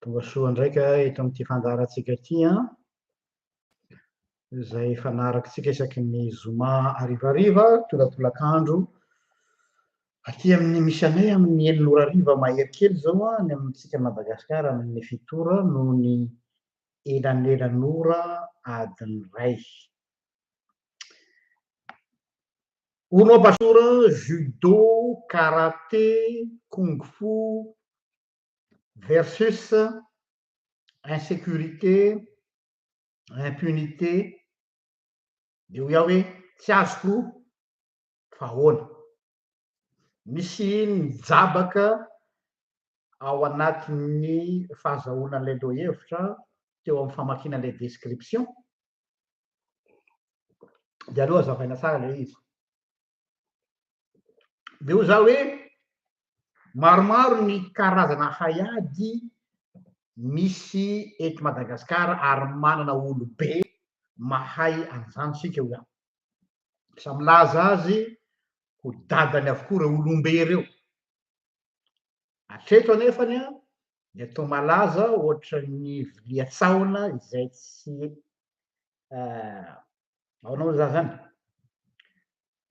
Tonga soa ndraika eto amin'ity fandaharantsika ity an! Izay fanarakintsika isaky ny zoma harivariva, tolatolakandro, aty amin'ny misy anay amin'ny enina ora hariva mahery kely izao an, ny amintsika Madagasikara amin'ny fito ora noho ny elanelan'ora adiny iray. Uno ba sur judo, karate, kung fu versus insécurité, impunité, dia hoy aho hoe tsy azoko fa ahoana. Misy mijabaka ao anatin'ny fahazahoana an'ilay lohahevitra teo amin'ny famakiana ilay description Dia aleo azavaina tsara ilay izy. Dia hoy za hoe maromaro ny karazana haiady misy eto Madagasikara ary manana olobe mahay an'izany isika hoy aho. Sa milaza azy ho dadany avokoa ireo olombe ireo. Hatreto anefany an, dia toa malaza ohatran'ny vilia sahona izay tsy ahoana moa izany izany?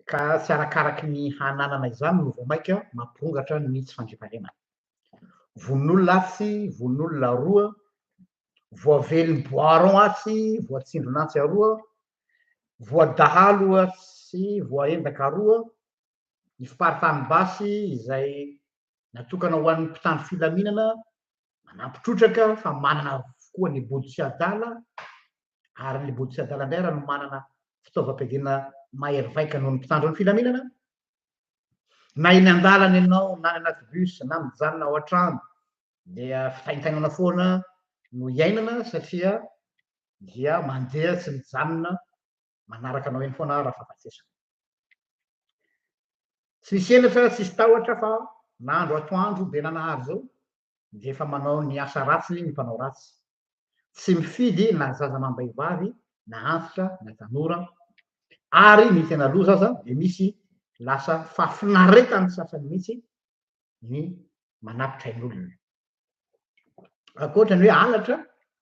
ka tsy arakaraky ny hananana izany no vao mainka mampirongatra ny tsy fandriampahalemana. Vononolona atsy, vononolona aroa, voavelon'ny boiron atsy, voatsindron'antsy aroa, voadahalo atsy, voaendaka aroa, ny fiparitahan'ny basy izay natokana ho an'ny mpitandro filaminana manampy trotraka fa manana avokoa ny bodo sy adala ary ny bodo sy adala indray raha no manana fitaovam-piadiana mahery vaika noho ny mpitandro ny filaminana na eny an-dalana ianao na ny anaty bus na mijanona ao an-trano dia fitaintainana foana no iainana satria dia mandeha tsy mijanona manaraka anao eny foana aho Rafahafatesana. Tsy nisy henatra, tsy nisy tahotra fa na andro atoandro be nanahary izao dia efa manao ny asa ratsiny ny mpanao ratsy. Tsy mifidy na zaza amam-behivavy na antitra na tanora ary ny tena loza aza dia misy lasa fahafinaretan'ny sasany mihitsy ny manapitra ain'olona. ankoatra ny hoe halatra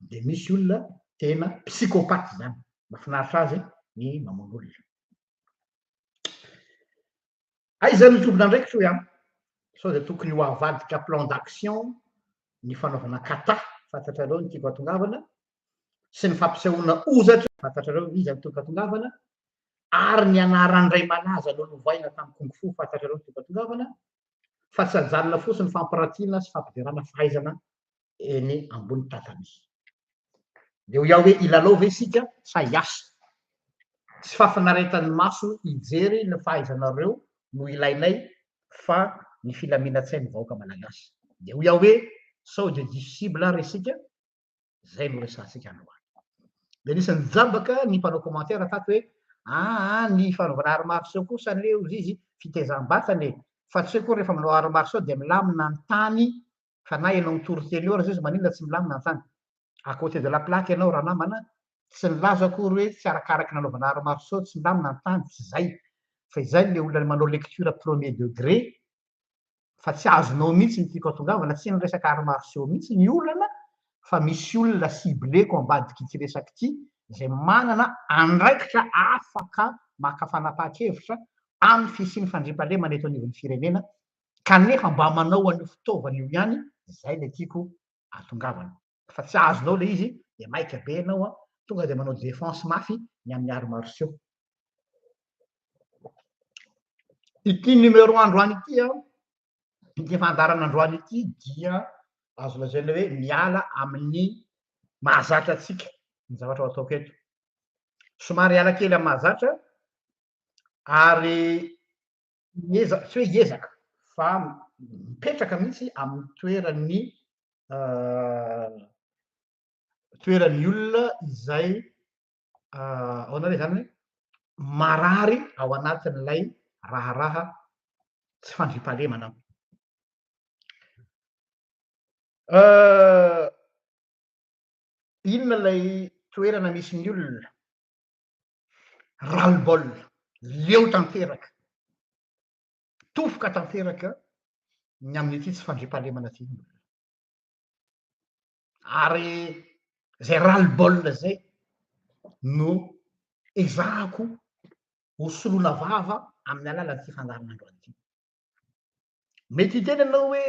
dia misy olona tena psychopathe zany mafinaritra azy ny mamono olona aiza no tompon'andraikitry hoe an sao dia tokony ho avadika plan d'action ny fanaovana kata fantatrareo ny tiako atongavana sy ny fampisehoana ozatra fantatrareo ny iza ny tiako atongavana ary ny anaran-dray malaza nolovaina tamin'ny kung fu fantatrareo ny tiako atongavana fa tsy ajanona fotsiny ny fampirantiana sy fampiderana fahaizana eny ambony tatami. Dia ho iao hoe hilalao ve isika sa hiasa? Tsy fahafinaretan'ny maso hijery ny fahaizanareo no ilainay fa ny filaminan-tsain'ny vahoaka malagasy. Dia ho iao hoe sao dia difficible ary isika? Zay no resahantsika androany. Dia nisy nijambaka ny mpanao commentaire tato hoe aa ny fanaovana arts martiaux kosa anie hozy izy fitezam-batana e, fa tsy hoe koa rehefa manao arts martiaux dia milamina ny tany fa na ianao mitory teny eo aza izy maninona tsy milamina ny tany. À côté de la plaque ianao ranamana, tsy nilaza akory hoe tsy arakaraky ny anaovana arts martiaux tsy milamina ny tany, tsy izay. Fa izay ilay olona manao lecture premier degré fa tsy azonao mihitsy ny tiako atongavana, tsy ny resaka arts martiaux mihitsy ny olana fa misy olona cibleko ambadik'ity resaka ity izay manana andraikitra afaka maka fanapahan-kevitra amin'ny fisian'ny fandriampahalemana eto anivon'ny firenena kanefa mba manao an'io fitaovana io ihany, izay ilay tiako atongavana. fa tsy azonao le izy de maika be enao a tonga de manao defense mafy ny amin'ny arts martiaux ity numéro androany ity a ity fandarana androany ity dia azo lazaina hoe miala amin'ny mahazatra atsika ny zavatra ho ataoko eto somary ala kely amin'ny mahazatra ary Hiezaka, tsy hoe hiezaka fa mipetraka mihitsy amin'ny toeran'ny toeran'ny olona izay ahoana re izany hoe marary ao anatin'ilay raharaha tsy fandriampahalemana. Inona ilay toerana misy ny olona? ras le bol, leo tanteraka, tofoka tanteraka ny amin'ity tsy fandriampahalemana ity ny olona. Ary izay ras le bol izay no ezahako ho soloina vava amin'ny alalan'ity fandaharanandro an'ity. Mety hiteny ianao hoe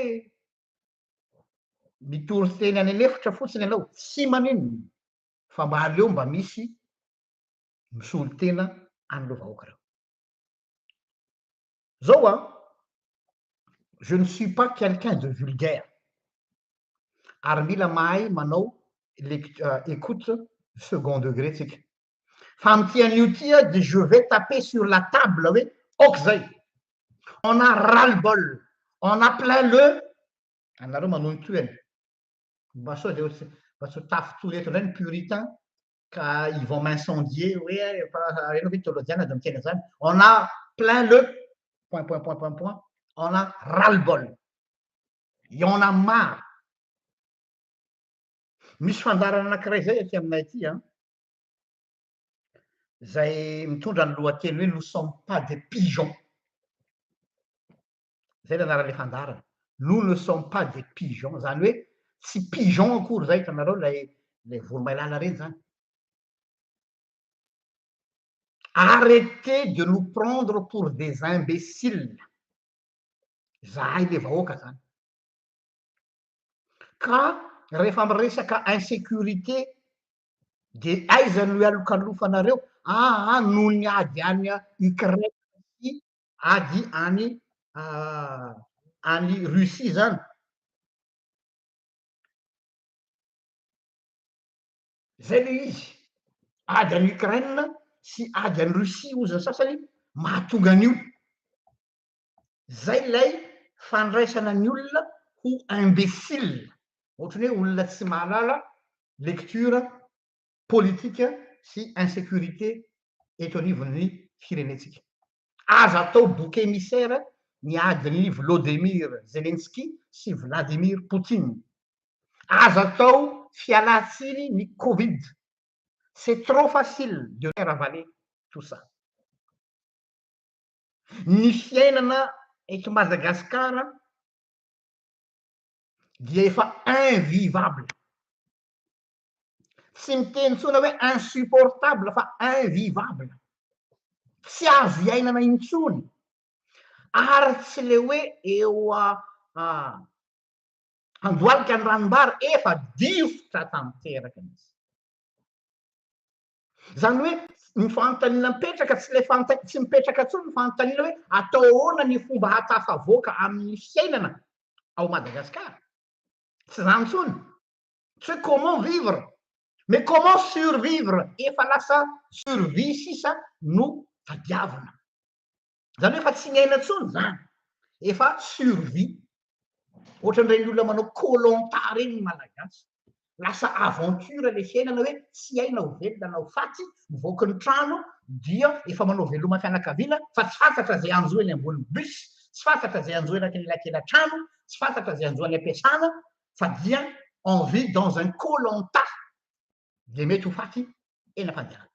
mitory teny any an'efitra fotsiny ianao, tsy maninona, fa mba aleo mba misy misolo tena an'ireo vahoaka ireo. Zao an, je ne suis pas quelqu'un de vulgaire ary mila mahay manao écoute second degré tsika. Fa amin'ity anio ity dia je vais taper sur la table hoe ok zay. On a ras le bol, on a plein le anareo manontohana. mba sao dia mba tsy ho tafintohy eto indray ny puritain ka ils vont m'incendier hoe efa ianao ve teolojiana dia miteny an'izany on a plein le point point point point point on a ras le bol et on a marre misy fandaharana anankiray izay aty aminay aty an izay mitondra ny lohateny hoe nous sommes pas des pigeons izay ilay anaran'ilay fandaharana, nous ne sommes pas des pigeons, izany hoe tsy pigeons akory izay, hitanareo ilay ilay voromailala ireny izany. Arrêtez de nous prendre pour des imbéciles, izahay ilay vahoaka izany. Ka rehefa miresaka insécurité dia aiza no ialokalofanareo? Aa noho ny ady any Ukraine sy ady any any Russie izany. Izay ilay izy. Ady any Ukraine sy ady any Russie hozy ny sasany mahatonga an'io. Izay ilay fandraisana ny olona ho imbécile, ohatran'ny hoe olona tsy mahalala lecture politika sy insécurité eto anivon'ny firenentsika. Aza atao bouc émissaire ny adin'i Vlodemir Zelensky sy Vladimir Poutine. Aza atao fialan-tsiny ny covid. C'est trop facile de faire avaler tout ça. Ny fiainana eto Madagascar dia efa invivable. tsy miteny tsona hoe insupportable fa invivable tsy azo iainana intsony ary tsy le hoe eo andoalika ny ranombary efa difotra tanteraka izy zany hoe ny fanontaniana mipetraka tsy le fanta tsy mipetraka tsony ny fanontaniana hoe atao ahoana ny fomba hatafavoaka amin'ny fiainana ao madagasikara tsy zany tsony tsy hoe comment vivre mais comment survivre efa lasa survie sisa no tadiavina zany hoe efa tsy miaina intsony zany efa survie ohatran'ireny olona manao koh-lanta ireny ny malagasy lasa aventure le fiainana hoe tsy hay na ho velona na ho faty mivoaka ny trano dia efa manao veloma fianakaviana fa tsy fantatra izay hanjo eny ambony bus tsy fantatra izay hanjo eraky ny elakela-trano tsy fantatra izay hanjo any am-piasana fa dia on vit dans un koh-lanta dia mety ho faty eny am-pandehanana.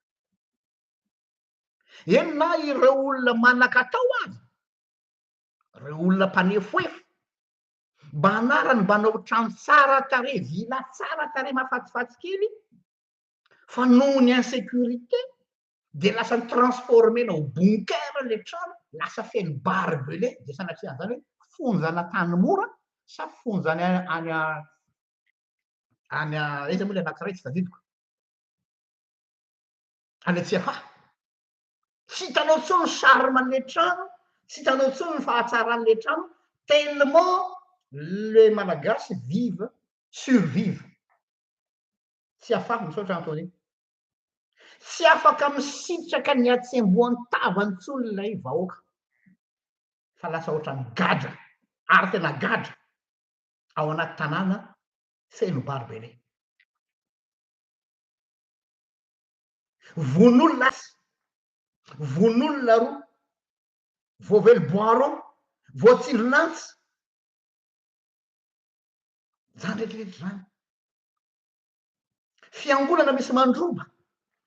Eny na ireo olona manan-katao aza, ireo olona mpanefoefo, mba anarany mbanao trano tsara tarehy, villa tsara tarehy mahafatifaty kely fa noho ny insécurité dia lasa ni-transformer-na ho bunker ilay trano, lasa feno barbelé, dia sanatria an'izany hoe fonja an'Antanimora sa fonja any any any aiza moa ilay anankiray tsy tadidiko, any Antsiafahy. Tsy hitanao intsony ny charme-n'ilay trano, tsy hitanao intsony ny fahatsaran'ilay trano, tellement les Malagasy vivent, survivent. Tsiafahy, misaotra Anthony. Tsy afaka misitraka ny hatsembohan-tavany intsony ilay vahoaka fa lasa ohatran'ny gadra ary tena gadra ao anaty tanàna feno Barbelé. Vono olona aza, vono olona roa, voavely boiron, voatsindron'antsy, izany rehetra rehetra izany. Fiangonana misy mandroba.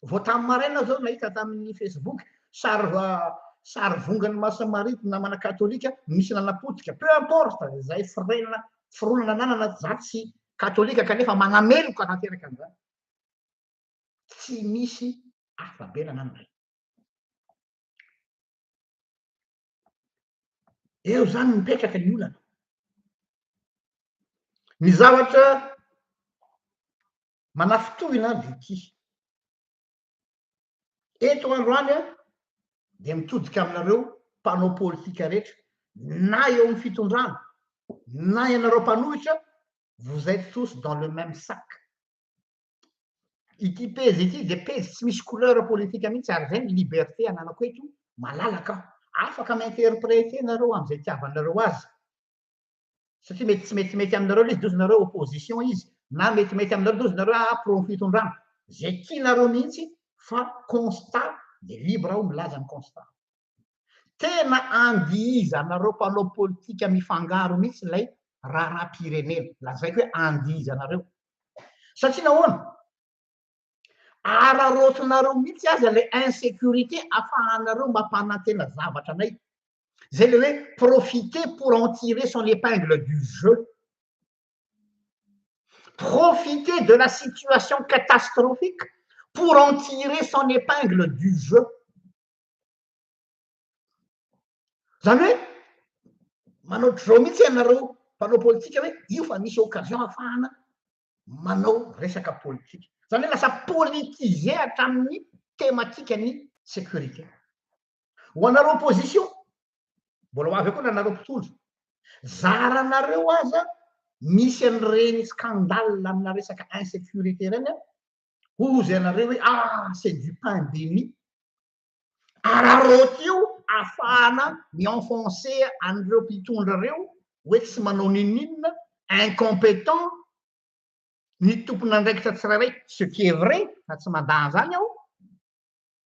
Vao tamin'ny maraina aho izao nahita tamin'ny Facebook sary sary vongan'ny Masin'i Maria ny namana katolika misy nanapotika. Peu importe izay firenena fironana ananana za tsy katolika kanefa manameloka tanteraka an'izany. Tsy misy afa-bela ananana. Eo izany no mipetraka ny olana. Ny zavatra manafintohina dia ity. Eto androany dia mitodika aminareo mpanao politika rehetra, na eo amin'ny fitondrana, na ianareo mpanohitra, vous êtes tous dans le même sac. Ity pejy ity dia pejy tsy misy couleur politique mihitsy ary izay ny liberté ananako eto, malalaka aho. Afaka mi-interpréter nareo amin'izay itiavanareo azy satria mety tsy metimety aminareo ilay izy dia ozy nareo opposition izy na metimety aminareo dia ozy nareo ah pro-fitondrana. Izay tianareo mihitsy fa constat dia libre aho milaza ny constat. Tena andihizanareo mpanao politika mifangaro mihitsy ilay raharaham-pirenena. Lazaiko hoe andihizanareo. Satria nahoana? Araraotinareo mihitsy aza ilay insécurité afahanareo mampanantena zavatra anay. Zay le hoe profiter pour en tirer son épingle du jeu. Profiter de la situation catastrophique pour en tirer son épingle du jeu. Izany hoe manao drao mihitsy ianareo mpanao politika hoe io fa misy occasion hahafahana manao resaka politika. Izany hoe lasa politiser hatramin'ny thématique ny sécurité. Ho anareo opposition, mbola ho avy eo koa na anareo mpitondra, zaranareo aza misy an'ireny scandale amina resaka insécurité ireny Hozy ianareo hoe ah c'est du pain béni. Araraoty io afahana mi-enfoncer an'ireo mpitondra ireo hoe tsy manao n'inon'inona, incompétent, ny tompon'andraikitra tsirairay, ce qui est vrai fa tsy mandà an'izany aho.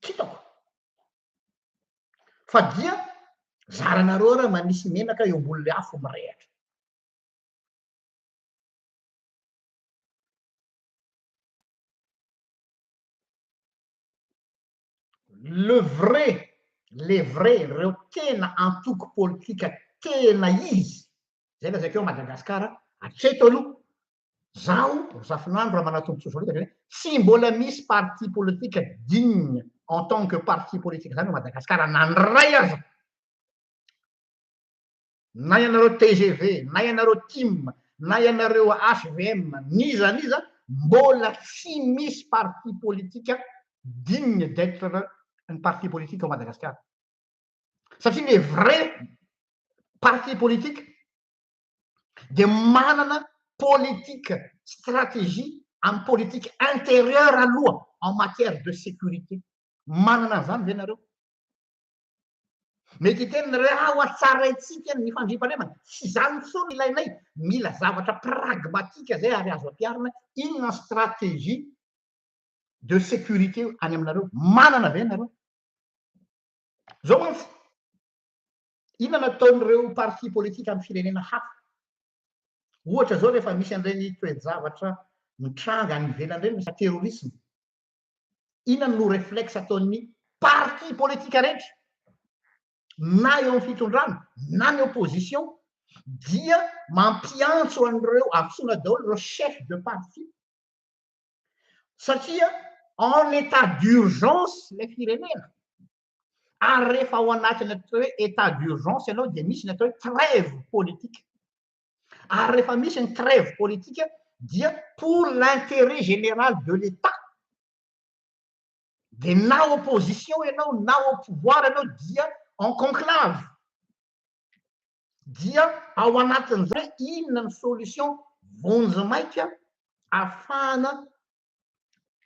Kitako fa dia zaranareo ary manisy menaka eo ambonin'ilay afo mirehatra. Le vrai, le vrai, ireo tena antoko politika tena izy, izay lazaiko eo Madagasikara hatreto aloha Zaho Razafinandro Ramanatompotsoa Solika zany hoe tsy mbola misy parti politique digne en tant que parti politique zany ao Madagascar na ny ray aza. Na ianareo tgv, na ianareo tim, na ianareo hvm, n'iza n'iza mbola tsy misy parti politique digne d'etre ny parti politique ao Madagascar. Satria le vrai parti politique dia manana politique stratégie am politique intérieur aloha en matière de sécurité manana an'izany ve nareo mety hiteny nareo ah oa tsaraintsika ny fandriampahalemana tsy izany intsony ilainay mila zavatra pragmatique zay ary azo ampiarina inona stratégie de sécurité any aminareo manana ve nareo zao mantsy Inona no ataon'ireo parti politique amin'ny firenena hafa? Ohatra izao rehefa misy an'ireny toe-javatra mitranga any ivelany ireny, resaka terrorisme. Inona no reflexe ataon'ny parti politique rehetra na eo amin'ny fitondrana na ny opposition dia mampiantso an'ireo afisona daholo ireo chef de parti satria en état d'urgence ilay firenena. Ary rehefa ao anatin'ny atao hoe état d'urgence ianao dia misy ny atao hoe trêve politique. Ary rehefa misy ny trêve politique dia pour l'intérêt général de l'État. Dia na opposition ianao na au pouvoir ianao dia en conclave. Dia ao anatin'izay inona ny solution vonjimaika afahana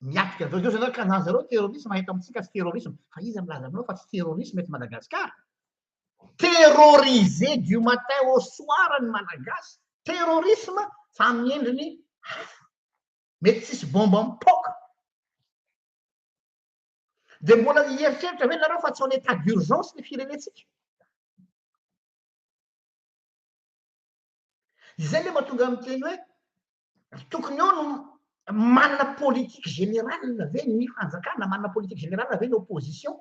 miatrika an'izao. Izao zareo kazà zareo terrorisme eto amintsika tsy terrorisme. Fa iza milaza aminao fa tsy terrorisme eto Madagascar? Terrorisé du matin au soir ny Malagasy. Terrorisme fa amin'ny endriny hafa. Mety tsisy bomba mipoaka. Dia mbola hieritreritra ve nareo fa tsy en état d'urgence ny firenentsika? Izay le mahatonga miteny hoe tokony eo no manana politique générale ve ny fanjakana, manana politique générale ve ny opposition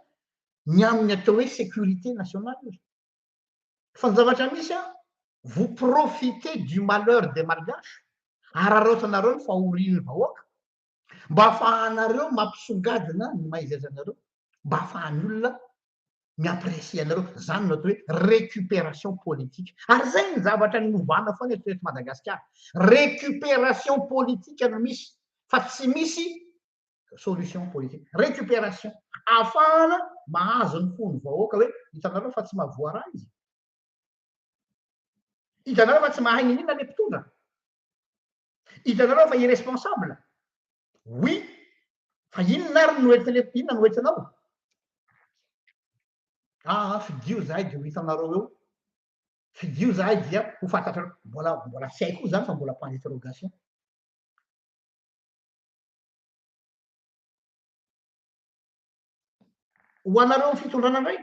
ny amin'ny atao hoe sécurité nationale? Fa ny zavatra misy an, vous profitez du malheur des malgaches, araraotinareo ny fahorian'ny vahoaka, Mba afahanareo mampisongadina ny maha izy azy anareo, mba afahan'ny olona mi-apprécier anareo. Zany no atao hoe récupération politique. Ary zay ny zavatra niovana foana eto eto Madagasikara. Récupération politique no misy fa tsy misy solution politique. Récupération. Afahana mahazo ny fon'ny vahoaka hoe hitanareo fa tsy mahavoaraha izy. Hitanareo fa tsy mahay niniana le mpitondra. Hitanareo fa irresponsable? Oui, fa inona ary no etsy inona no etsy anao? Ah, ah, fidio zahay dia ho hitanareo eo. Fidio zahay dia ho fantatrareo. Mbola mbola tsy haiko zany fa mbola point d'interrogation. Ho anareo fitondrana indray.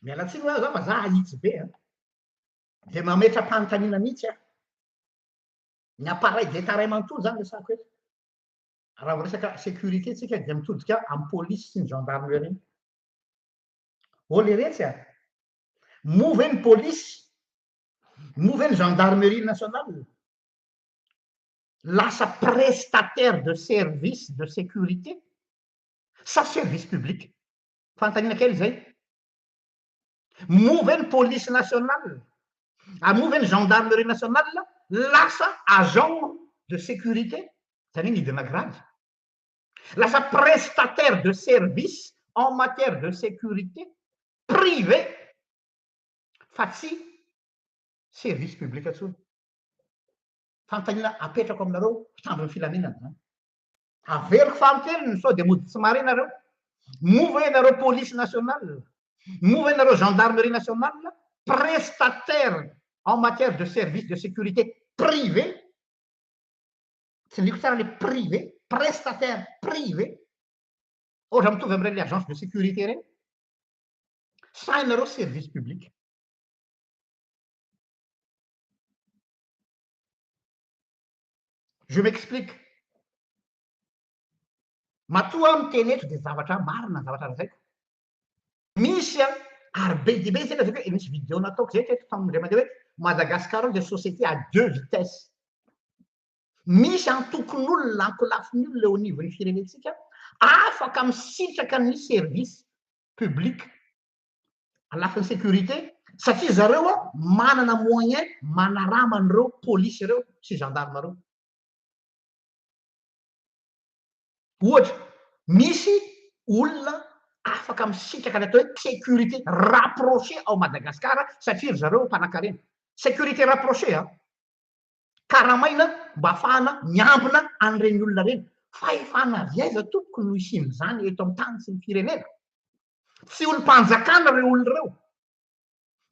Miala tsiny hoe za fa za ahitsy be a. Ah. Dia mametra-panontaniana mihitsy aho. Ny appareil d'Etat iray manontolo izany resahako eto. Raha vao resaka sécurité tsika dia mitodika amin'ny polisy sy ny gendarmerie. Ô leretsy a! Moa ve ny polisy, moa ve ny gendarmerie nationale lasa prestataire de service de sécurité sa service public? Fanontaniana kely izay. Moa ve ny police nationale ary moa ve ny gendarmerie nationale lasa agent de sécurité, izany hoe nidina grade? Lasa prestataire de service en matière de sécurité privé fa tsy service public intsony. Fanontaniana apetrako aminareo mpitandro ny filaminana izany. Averiko fahakeliny sao dia mody tsy mahare nareo. Moa ve ianareo police nationale, moa ve ianareo gendarmerie nationale prestataire en matière de service de sécurité privé, tsindriako tsara ilay privé, prestataire privé, ohatra mitovy amin'ireny agence de sécurité ireny, sa ianareo service public. Je m'explique. Matoa aho miteny eto dia zavatra marina ny zavatra lazaiko. Misy a, ary be dia be izay lazaiko hoe misy vidéo nataoko izay teto tamin'ny indray mandeha hoe Madagascar dia société à deux vitesses. Misy antokon'olona, ankolafin'ny olona eo anivon'ny firenentsika afaka misitraka ny service public à lafiny sécurité satria zareo a manana moyen manarama an'ireo polisy ireo sy gendarme ireo. Ohatra, misy olona afaka misitraka ny atao hoe sécurité rapprochée ao Madagascar satria ry zareo mpanakarena. Sécurité rapprochée an! Karamaina mba hahafahana miambina an'ireny olona ireny. Fahefana avy aiza tompoko no hisian'izany eto amin'ny tany sy ny firenena? Tsy olom-panjakana ireo olona ireo.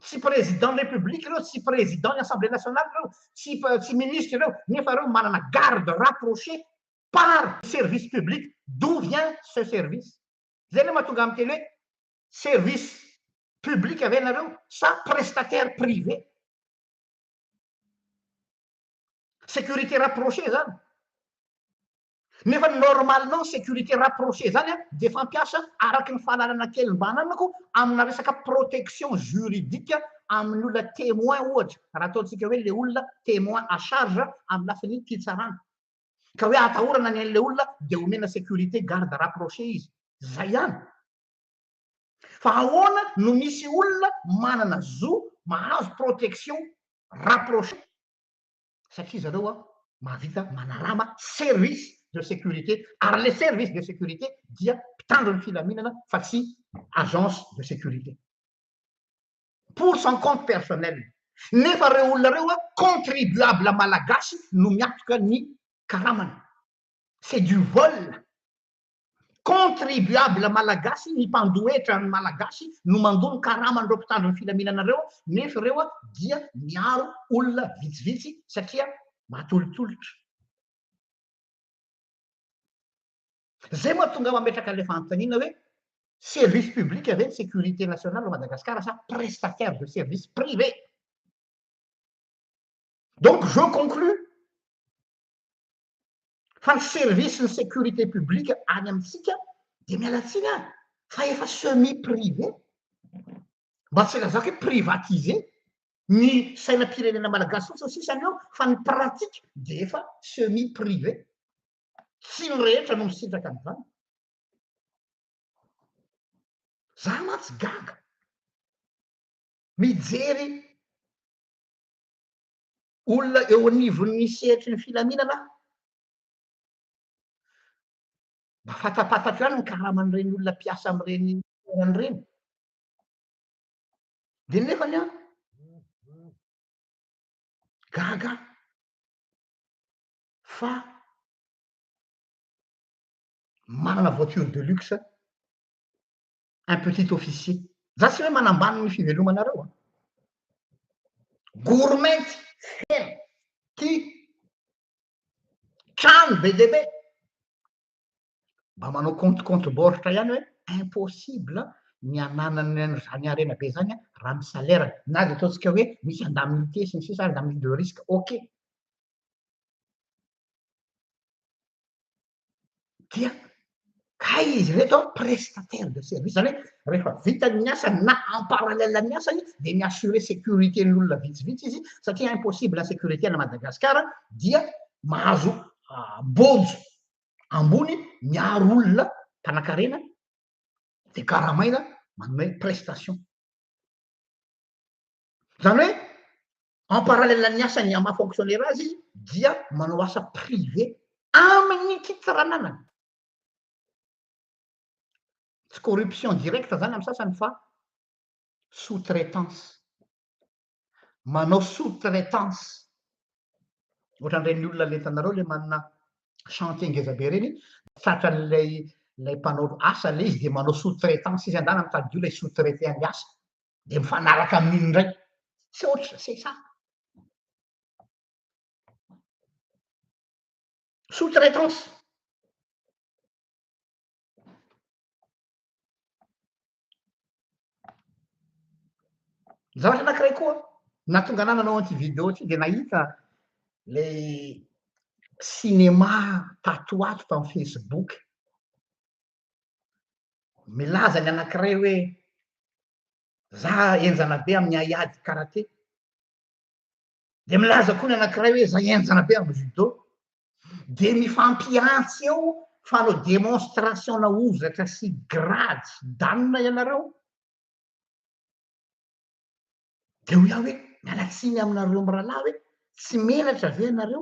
Tsy président ny république ireo, tsy président ny assemblée nationale ireo, tsy tsy ministre ireo, nefa ireo manana garde rapproché par service public, d'où vient ce service? Zay le mahatonga miteny hoe service public ve nareo sa prestataire privé? Sécurité rapprochée zany. Nefa ny normalement ny sécurité rapprochée zany a dia fampiasa araky ny fahalalana kely mba ananako amina resaka protection juridique amin'ny olona témoin ohatra raha ataontsika hoe le olona témoin à charge amin'ny lafiny pitsarana ka hoe atahorana ny an'ilay olona dia omena sécurité garde rapprochée izy. Zay ihany. Fa ahoana no misy olona manana zo mahazo protection rapprochée? satria zareo an mahavita manarama service de sécurité ary le service de sécurité dia mpitandro ny filaminana fa tsy agence de sécurité pour son compte personnel nefa reo olona reo an contribuable malagasy no miatoka ny karamany c'est du vol Contribuable malagasy ny mpandoa hetra ny malagasy no mandoa ny karaman'ireo mpitandro ny filaminana ireo nefa ireo dia miaro olona vitsivitsy satria matolotolotra. Zay mahatonga ahy mametraka ilay fanontaniana hoe service public ve ny sécurité nationale ao Madagascar sa prestataire de service privé? Donc je conclus fa ny service ny sécurité publique any amintsika dia miala tsiny aho fa efa semi privé mba tsy lazako hoe privatisé ny sainam-pirenena malagasy fotsiny sisa ny eo fa ny pratique dia efa semi privé tsy ny rehetra no misitraka an'izany za mantsy gaga mijery olona eo anivon'ny sehatry ny filaminana aho. Mba fantampatako ihany ny karaman'ireny olona mpiasa amin'ireny toerana ireny. Dia nefa ny aho, gaga fa manana voiture de luxe un petit officier. Za tsy hoe manambany ny fivelomanareo a. Gourmety feno ty trano be dia be. Mba manao compte compte baoritra ihany hoe impossible ny ananany an'izany harena be zany raha ny salaire na dia ataontsika hoe misy indemnité sy ny sisa indemnité de risque ok. dia kay izy reto an prestataire de service zany hoe rehefa vitany ny asany na en parallèle amin'ny asany dia mi assurer sécurité ny olona vitsivitsy izy satria impossible insécurité any Madagascar dia mahazo bonzo ambony miaro olona mpanakarena dia karamaina manome prestation zany hoe en parallèle ny asany ama fonctionnaire azy izy dia manao asa privé amin'ny fitsaranana tsy corruption directe zany amin'ny sasany fa sous traitance manao sous traitance ohatran'ireny olona le hitanareo le manana chantier ngeza be ireny tratran'ilay ilay mpanao asa le izy dia manao sous traitance izy andanany mitady olona hi sous traiter ny asa dia mifanaraka amin'iny indray tsy ohatry ny sesat sous traitance zavatra anakiray koa nahatonga anah nanao an'ity video ity dia nahita le cinema tato ato tamin'ny facebook Milaza ny anankiray hoe, Za henjana be amin'ny haiady karate. Dia milaza koa ny anankiray hoe, Za henjana be amin'ny judo. Dia mifampihantsy eo fanao demonstration na hozatra sy grady sy danina ianareo. Dia hoy aho hoe, miala tsiny aminareo mirahalahy hoe, tsy menatra ve ianareo?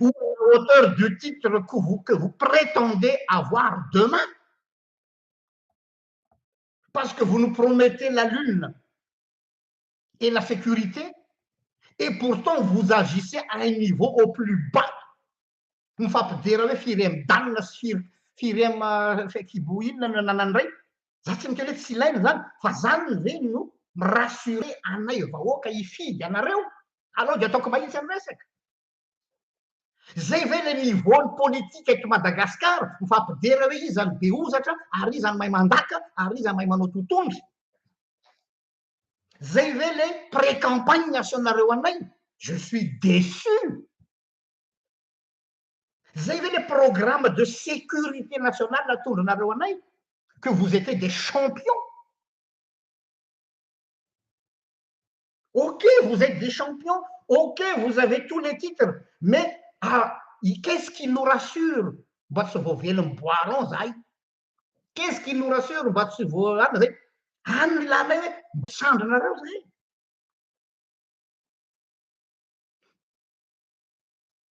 ou à la hauteur du titre que vous, que vous prétendez avoir demain. Parce que vous nous promettez la lune et la sécurité, et pourtant vous agissez à un niveau au plus bas. Mifampidera hoe firy am danina sy firy firy am fekibo inona no ananany indray. Za tsy miteny hoe tsy ilaina zany, fa zany ve no mi-rassurer anay vahoaka hifidy anareo Aleo dia ataoko mahitsy ny resaka. Zay ve le niveau ny politika eto Madagascar mifampidera hoe iza no be ozatra ary iza no mahay mandaka ary iza mahay manao totohondry. Zay ve le pré campagne asonareo anay? Je suis déçu. Zay ve le programme de sécurité nationale atondranareo anay? Que vous étiez des champions. Ok vous etes des champions, ok vous avez tous les titres mais qu'est ce qui nous rassure mba tsy voavelin'ny bois rond zahay, qu'est ce qui nous rassure mba tsy voalana zay, any ny lalanay hoe misandry anareo zahay.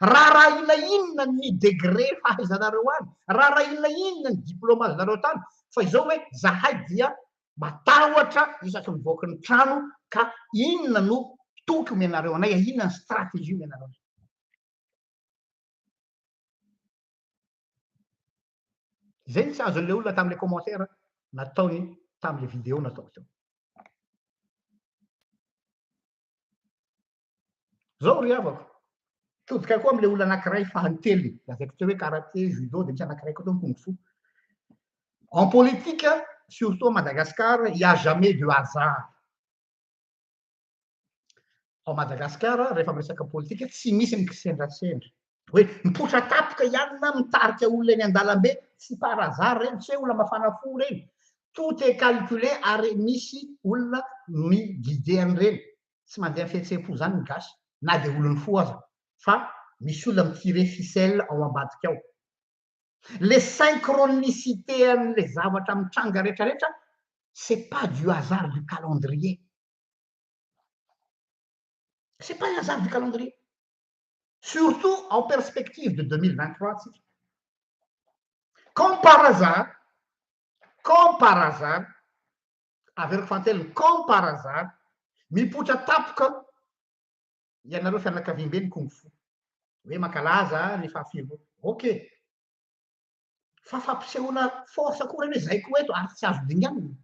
Raharahiana inona ny degré fahaizanareo any? Raharahiana inona ny diplaomanareo tany? Fa izao hoe zahay dia matahotra isaky ny mivoaka ny trano ka inona no toky omenareo anay? Inona ny stratégie omenareo anay? Izay no tsy azon'ilay olona tamin'ilay commentaire nataony tamin'ilay vidéo nataoko teo. Zao ry havako, todika koa amin'ilay olona anankiray faha-telony, lazaiko teo hoe karate, judo, dia misy anankiray koa teo ny kung fu. En politique, surtout à Madagascar, il n'y a jamais de hasard. Ao Madagascar, rehefa miresaka politika, tsy misy ny kisendrasendra. Hoe mipoitra tapika ihany na mitarika olona eny an-dalambe, tsy par hasard ireny, tsy hoe olona mafana fo ireny. Tout est calculé ary misy olona mi-guider an'ireny. tsy mandeha fihetseham-po zany ny gasy na dia olon'ny fo aza fa misy olona mi-tirer ficelle ao ambadika ao. Le synchronicité an'le zavatra mitranga rehetra rehetra c'est pas du hasard du calendrier. C'est pas un hasard du calendrier. Surtout en perspective de 2023 tsika. Comme par hasard, comme par hasard, averiko fahatelo comme par hasard mipoitra tapoka ianareo fianakaviambe ny kung fu hoe mankalaza ny fahafiloha ok fa fampisehoana force koa reny hoe zay koa eto ary tsy azo dinganina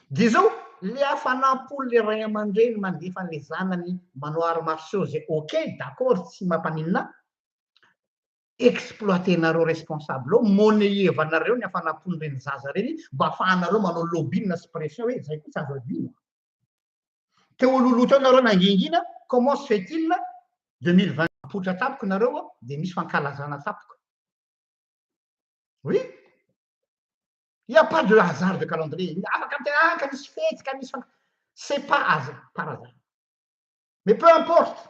dia zao le hafanam-po le ray aman-dreny mandefa an'le zanany manao arts martiaux zay ok d'accord tsy mampaninona ahy exploitenareo responsable ao, moneyevanareo ny hafanam-pon reny zaza reny mba afahanareo manao lobbying na sy pression hoe zay koa tsy azo adino. Teo ololoha teo nareo nangingina, comment se fait il 2020 mipoitra tampoka nareo ao dia misy fankalazana tampoka. Oui. Il n'y a pas de hasard de calendrier. Afaka mitena ka misy fety ka misy fankalazana. C'est pas hasard, par hasard. Mais peu importe.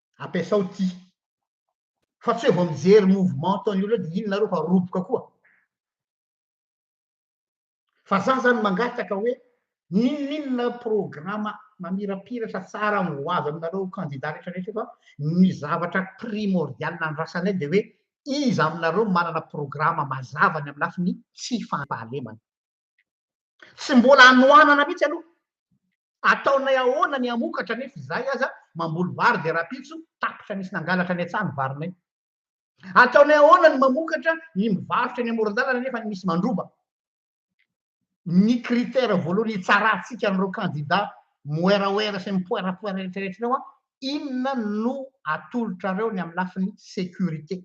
ampiasao ity fa tsy hoe vao mijery mouvement ataon'ny olona dia iny nareo fa roboka koa fa za zany mangataka hoe ninoninona programa mamirapiratra tsara ho avy aminareo kandida rehetra rehetra fa ny zavatra primordial nandrasanay dia hoe iza aminareo manana programa mazava ny amin'ny lafiny tsy fampahalemana Tsy mbola hanohanana mihitsy aloha. Ataonay ahoana ny hamokatra nefa izahay aza mamboly vary dia rahampitso tapitra nisy nangalatra any an-tsaha ny varinay. Ataonay ahoana ny mamokatra, ny mivarotra eny amoron-dalana nefa misy mandroba. Ny critère voalohany hitsarantsika an'ireo kandida moeraoera sy mipoerapoera rehetrarehetra ireo an, inona no atolotrareo ny amin'ny lafiny sécurité.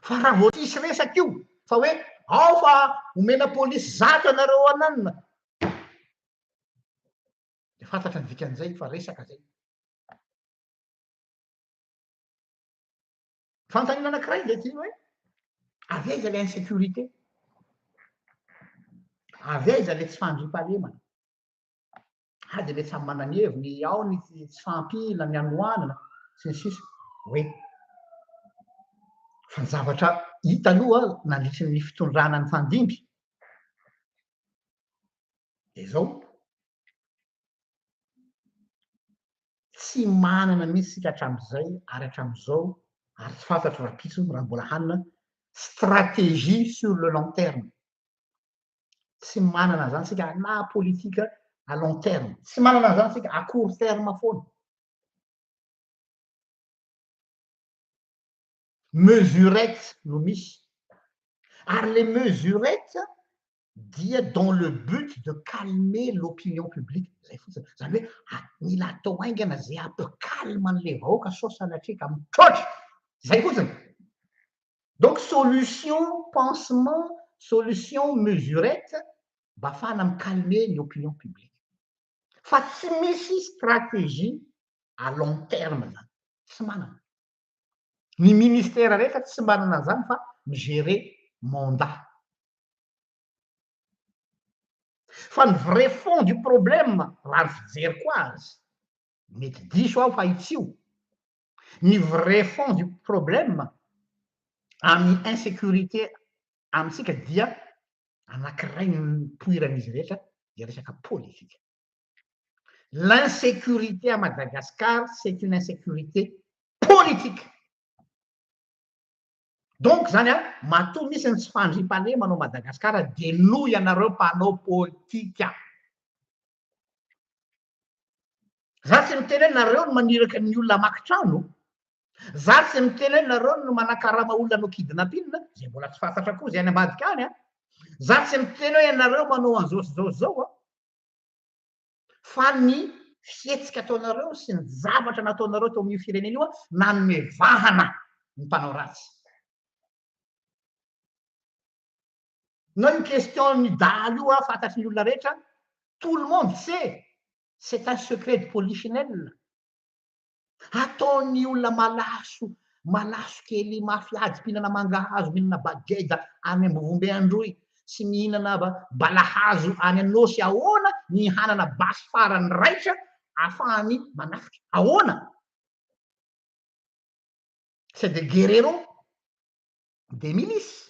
Fa raha vao hisy resaka io fa hoe ao fa omena polisy zato ianareo ananina dia fantatra ny dikan'izay fa resaka zay. Fanontaniana anankiray dia ty hoe avy aiza ilay insécurité? Avy aiza ilay tsy fandriampahalemana? ah dia ilay samy manana ny heviny, ao ny tsy fahampiana, ny hanoanana, sy ny sisa hoe fa ny zavatra hita aloha nandritry ny fitondrana ny fandimby dia izao tsy manana mihitsy sika hatramin'izay ary hatramin'izao ary tsy fantatro raha pitso raha mbola hanina stratégie sur le long terme Tsy manana an'izany isika na politika à long terme. Tsy manana an'izany isika à court terme foana. Mesurette no misy. Ary le mesurette dia dans le but de calmer l'opinion publique zay fotsiny. Zany hoe ah, mila atao haingana zay hampikalma an'ilay vahoaka sao sanatria ka mitroatra. Zay fotsiny. Donc solution pansement, solution mesurette mba afahana mi calmer ny opinion publique. Fa tsy misy stratégie à long terme zany. Tsy manana. Ny ministère rehetra tsy manana an'zany fa mi gérer mandat. Fa ny vrai fond du problème raha ny fijeriko azy, mety diso aho fa itsio, Ny vrai fond du problème amin'ny insécurité amintsika dia anankiray nipoiran'izy rehetra dia resaka politika. L'insécurité à Madagascar c'est une insécurité politique. Donc zany a, matoa misy ny tsy fandriampahalemana ao Madagascar dia noho ianareo mpanao politika. Za tsy miteny hoe nareo no maniraka ny olona hamaky trano, za tsy miteny hoe nareo no manakarama olona hanao kidnapping, izay mbola tsy fantatra koa izay any ambadika any an, za tsy miteny hoe ianareo manao an'izao sy izao sy izao an, fa ny fihetsika ataonareo sy ny zavatra nataonareo tao amin'io firenena io nanome vahana ny mpanao ratsy. na io question ny dahalo io a fantatry ny olona rehetra tout le monde sait c'est un secret de polichinelle ataon'ny olona malaso malaso kely mafy ady mpihinana mangahazo mihinana bageda any ambovombe androy sy mihinana balahazo any anôsy ahoana ny hanana basy farany raitra afahany manafika ahoana c'est des guerreros des milices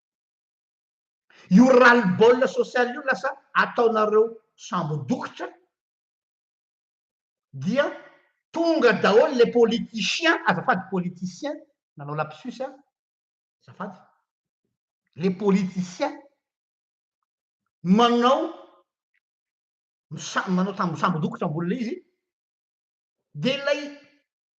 Io ras-le-bol sosialy io lasa ataonareo sambo dokotra dia tonga daholo les politichiens, azafady politiciens, nanao lapsus aho, azafady, les politiciens manao manao sambo dokotra ambony ilay izy dia ilay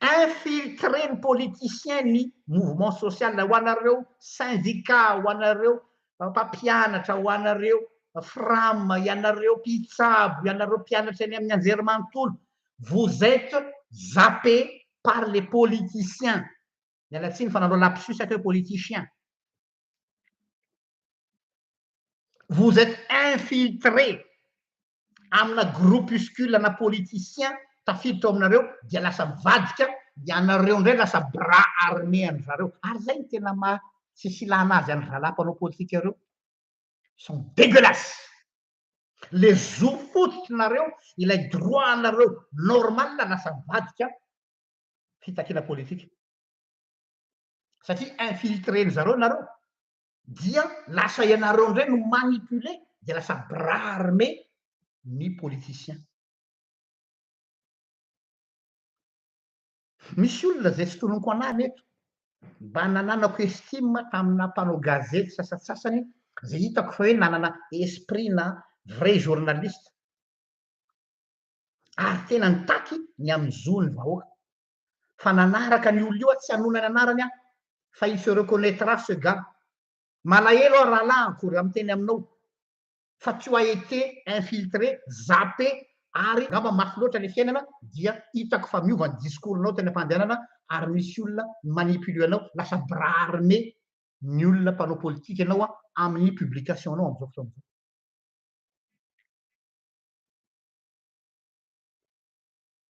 infiltré ny politiciens ny mouvement social ho anareo syndicat ho anareo mpampianatra ho anareo fram ianareo mpitsabo ianareo mpianatra any amin'ny anjerimanontolo vous êtes zappé par les politiciens miala tsiny fa nanao lapsus aky politiciens vous êtes infiltré amina groupuscule na politiciens tafiditra ao aminareo dia lasa mivadika ianareo indray lasa bras armé an-dry zareo ary izay no tena maha tsy filana azy an-dry zalahy mpanao politika ireo sont dégueulasses le zo fototrinareo ilay droit anareo normal lasa mivadika fitakiana politika satria infiltré-ny zareo nareo dia lasa ianareo indray no manipule dia lasa bras armé ny politiciens. Misy olona izay tsy tononiko anarana eto, mba nananako estime tamina mpanao gazety sasatsasany izay hitako fa hoe nanana esprit na vrai journaliste ary tena nitaky ny amin'ny zon'ny vahoaka. fa nanaraka an'io olona io aho, tsy hanona ny anarany aho fa il se reconnaitra ce gars. Malahelo aho rahalahiko raha miteny aminao fa tu as été infiltré, zappé ary angamba mafy loatra le fiainana dia hitako fa miova ny discours nao teny am-pandehanana ary misy olona mi-manipuler anao lasa bras armé ny olona mpanao politika ianao amin'ny publication nao amin'izao fotoana izao.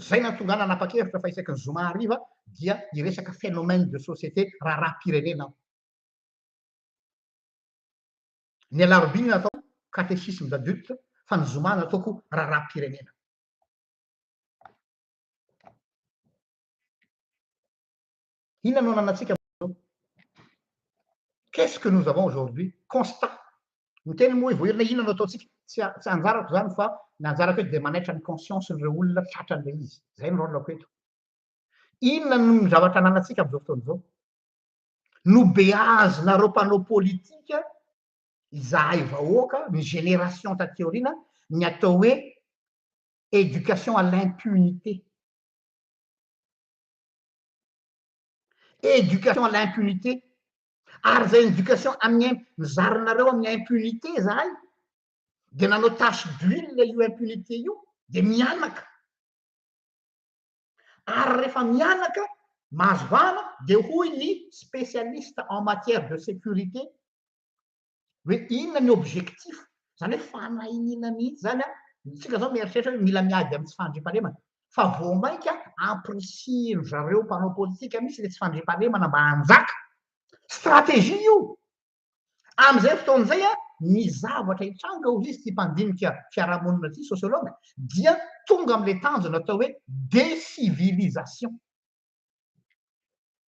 Izay nahatonga ahy nanapa-kevitra fa isaky ny zoma hariva dia hiresaka phénomène de société, raharaham-pirenena, aho. Ny alarobia no nataoko catéchisme d'adulte fa ny zoma nataoko raharaham-pirenena. Inona no ananantsika amin'izao? Qu'est-ce que nous avons aujourd'hui? Constat. Miteny moa hoe voaherina inona no ataontsika? Tsy tsy anjarako izany fa ny anjarako eto dia manaitra ny conscience-n'ireo olona tratran'ilay izy. Izay no rôle-ko eto. Inona no ny zavatra ananantsika amin'izao fotoana izao? Nobeazinareo mpanao politika izahay vahoaka, ny génération taty aoriana, ny atao hoe éducation à l'impunité. Education à l'impunité. Ary zay education amin'ny im- nizarinareo amin'ny impunité zahay de nanao tache d'huile io impunité io de mianaka. Ary rehefa mianaka mahazo vahana de hoy ny spécialiste en matière de sécurité hoe inona ny objectif, izany hoe fanahiniana mihitsy izany an, isika izao mieritreritra hoe mila miady amin'ny tsy fandriampahalemana, fa vao mainka ampirisihindry zareo mpanao politika mihitsy ilay tsy fandriampahalemana mba hanjaka, stratégie io, amin'izay fotoana izay an, ny zavatra hitranga hoy izy ity mpandinika fiarahamonina ity, sociologue, dia tonga amin'ilay tanjona atao hoe décivilisation.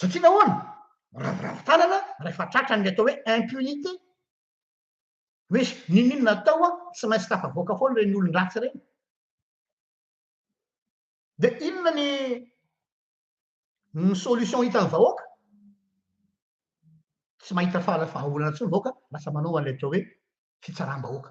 Satria nahoana? Miraviravy tanana rehefa tratra ny atao hoe impunité. Hoe n'inon'inona atao an, tsy maintsy tafavoaka foana ireny olon-dratsy ireny. Dia inona ny ny solution hitan'ny vahoaka? Tsy mahita fahaolana intsony ny vahoaka, lasa manao an'ilay atao hoe fitsaram-bahoaka.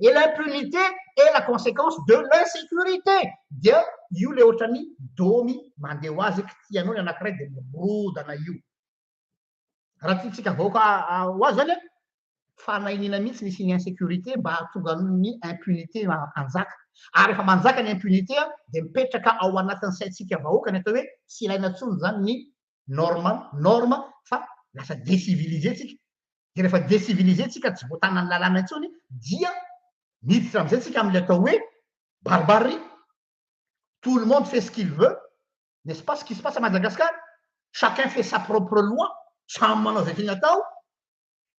et l'impunité est la conséquence de l'insécurité dia io le ohatrany domy mandeha ho azy eky tianao ny anakiray dia mirodana io raha tiantsika vahoaka ho azy zany fanahiniana mihitsy ny siny insécurité mba hahatonga ny impunité hanjaka ary efa manjaka ny impunité dia mipetraka ao anatin'ny saintsika vahoaka ny atao hoe tsy ilaina tsony zany ny normal norme fa lasa decivilise tsika de rehefa decivilise tsika tsy voatanan'ny lalàna intsony dia miditra amizay tsika amle atao hoe barbarie tout le monde fait ce qu'il veut n'est-ce pas ce qui se passe à Madagascar chacun fait sa propre loi samy manao zay tiany atao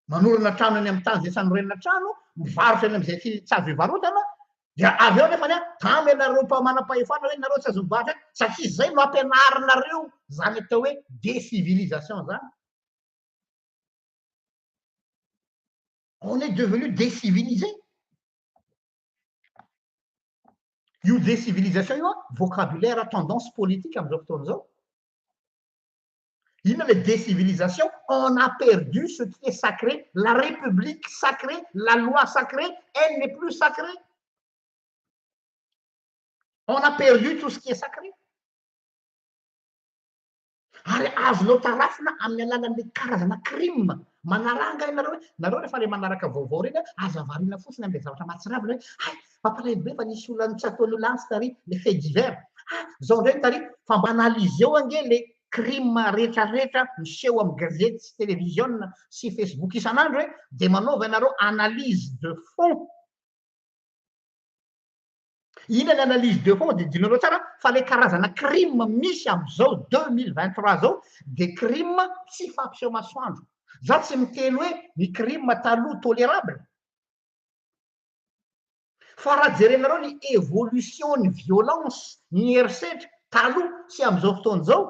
manorina trano eny amin'ny tany izay tsy hanorenana trano, mivarotra eny amin'izay tsy tsy azo ivarotana, dia avy eo nefany a, tamy ianareo mpa- manam-pahefana hoe nareo tsy azo mivarotra eny, satria tsy izay no ampianarinareo izany atao hoe décivilisation izany. On est devenu décivilisé. Io décivilisation io a, vocabulaire tendance politique amin'izao fotoana izao. Inona le décivilisation? On a perdu ce qui est sacré, la république sacrée, la loi sacrée, elle n'est plus sacrée. On a perdu tout ce qui est sacré. Ary azonao tarafina amin'ny alalan'ny karazana crime manaranga ianareo hoe nareo rehefa le manaraka vaovao ireny aza variana fotsiny amin'ny zavatra mahatsiravina hoe hay Mampalahelo be fa nisy olona tsy ataon'io lantsy tary le fait divers. Ah, zao ndray tary fa mba analyseo ange le crime rehetra rehetra miseho amin'ny gazety sy télévision sy Facebook isan'andro e, de manaova ianareo analyse de fond. Ina ny analyse de fond de dinareo tsara fa le karazana crime misy amin'izao 2023 zao de crime tsy fampiseho masoandro. Za tsy miteny hoe ny crime taloha tolérable. Fa raha jerenareo ny evolution ny violence ny herisetra taloha sy amizao fotoana izao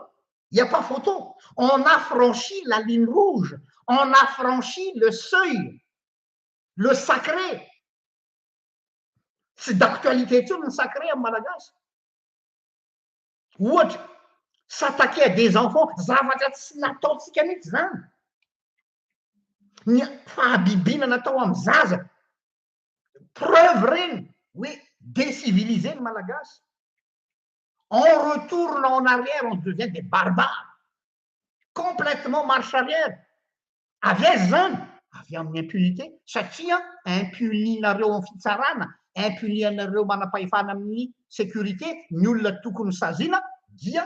il n'y a pas photo on a franchi la ligne rouge on a franchi le seuil le sacré tsy d'actualité intsony ny sacré am malagasy ohatra s'attaquer à des enfants zavatra tsy nataontsika mihitsy zany ny fahabibiana natao amin'ny zaza, preuve ireny hoe deciviliser ny Malagasy, en retour na en arrière on devient des barbares, complètement marche arrière, avy aiza izany? avy amin'ny impunité satria impuninareo amin'ny fitsarana, impuninareo manam-pahefana amin'ny sécurité ny olona tokony saziana dia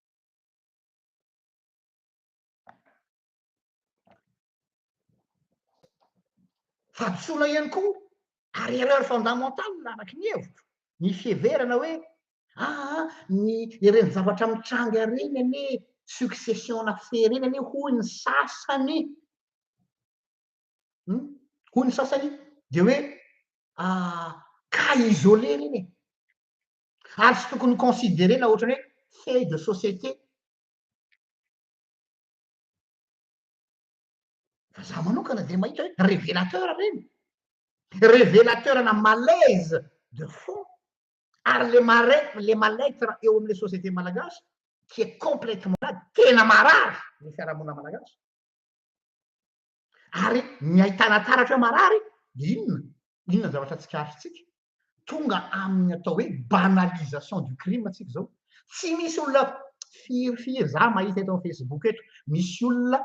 Hadisoana ihany koa ary erreur fondamentale araky ny hevitro, ny fiheverana hoe aa ny ireny zavatra mitranga ireny anie succession-na fe ireny anie hoy ny sasany hum hoy ny sasany dia hoe aa cas isolé ireny e. ary tsy tokony ho considerena ohatrany hoe fait de société. Fa za manokana dia mahita hoe révélateur ireny. Révélateur na malaise de fond ary le mare- le mal-être eo amin'ny société malagasy qui est complètement malade, tena marary ny fiarahamonina malagasy. Ary ny ahitana taratra hoe marary dia inona? Inona ny zavatra tsikaritrintsika? Tonga amin'ny atao hoe banalisation du crime tsika izao. Tsy misy olona firy firy za mahita eto amin'ny Facebook eto, misy olona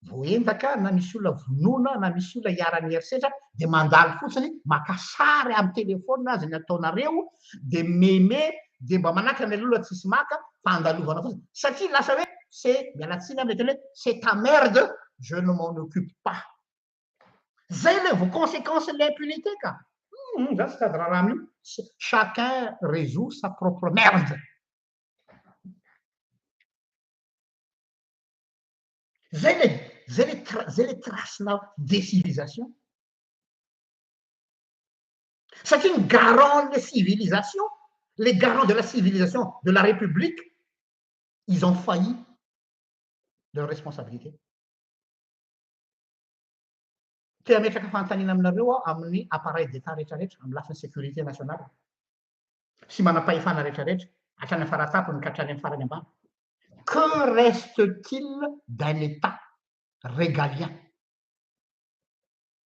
voaendaka na misy olona vonoina na misy olona iharan'ny herisetra dia mandalo fotsiny, maka sary amin'ny telefaonina aza ny ataonareo dia meme dia mba manakana ny lola tsisy maka fa andalovana fotsiny satria lasa hoe se miala tsiny a mety hoe se ta merde je ne m'en occupe pas zay le vao consequence ny impunité ka hum za tsy sady raharaha amio chacun resout sa propre merde zay le zay le zay le trace na decilisation satria ny garant ny civilisation le garant de la civilisation de la republique ils ont failli leur responsabilité te ametraka fanontaniana aminareo aho amin'ny appareil d'état rehetrarehetra amin'ny lafiny sécurité nationale sy manam-pahefana rehetrarehetra hatrany amin'ny faratapony ka hatrany amin'ny farany ambany que reste-t-il d'un état régalien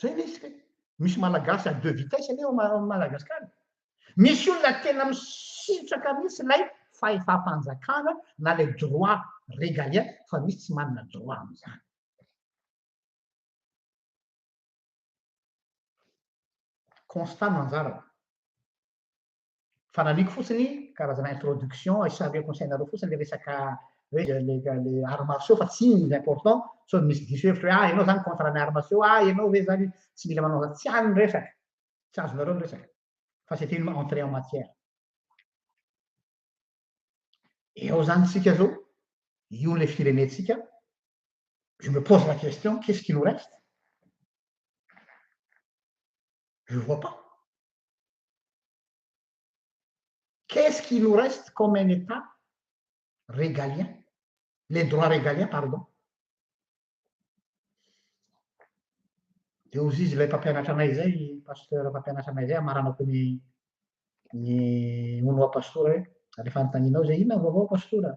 Zay le izy kay. Misy malagasy à deux vitesses anie ao Madagascar. Misy olona tena misitraka mihitsy ilay fahefam-panjakana na ilay droit régalien fa misy tsy manana droit amin'izany. Constat no anjarako. Fanalihiko fotsiny karazana introduction isaluer conseil nareo fotsiny le resaka hoe le le arts martiaux fa tsy iny important sao misy diso hevitra hoe ah ianao zany contre ny arts martiaux ah ianao ve zany tsy mila manao zany tsy any ny resaka tsy azonareo ny resaka fa c'est une entrée en matière eo zany tsika zao io le firenentsika je me pose la question qu'est-ce qui nous reste je vois pas Qu'est-ce qui nous reste comme un État régalien, les droits régaliens, pardon. Dia hozy izy ilay mpampianatra anay izay, pasteur mpampianatra anay izay, amaranako ny ny onoa pastora hoe, rehefa anontanianao izay, inona vaovao pastora?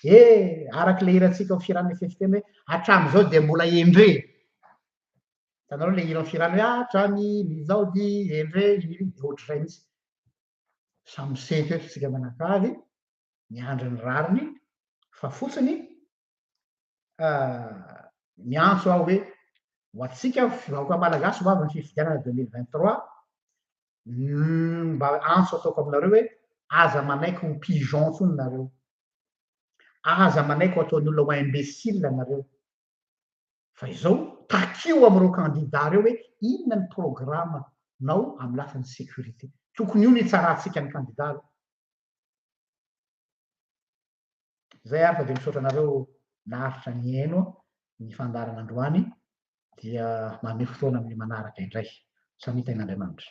Eh, araka ilay hirantsika ao firan'ny fefiteny hoe, hatramin'izao dia mbola endre. hitanareo le hiran'ny firano hoe hatrany ny zaody endre iny de ohatr'izay mihitsy samy misento eto isika mianakavy miandry ny rariny fa fotsiny miantso aho hoe ho antsika vahoaka malagasy ho avy ny fifidianana deux mille vingt trois mba antso ataoko aminareo hoe aza manaiky ho pigeon ntsony nareo aza manaiky ho ataon'ny olona ho imbécile nareo fa izao, takio amin'ireo kandida ireo hoe inona ny programa nao amin'ny lafin'ny sécurité. Tokony io no hitsarantsika ny kandida aloha. Izay ary fa dia misaotra anareo naharitra nihaino ny fandaharana androany dia manome fotoana amin'ny manaraka indray. Samia tain'Andriamanitra.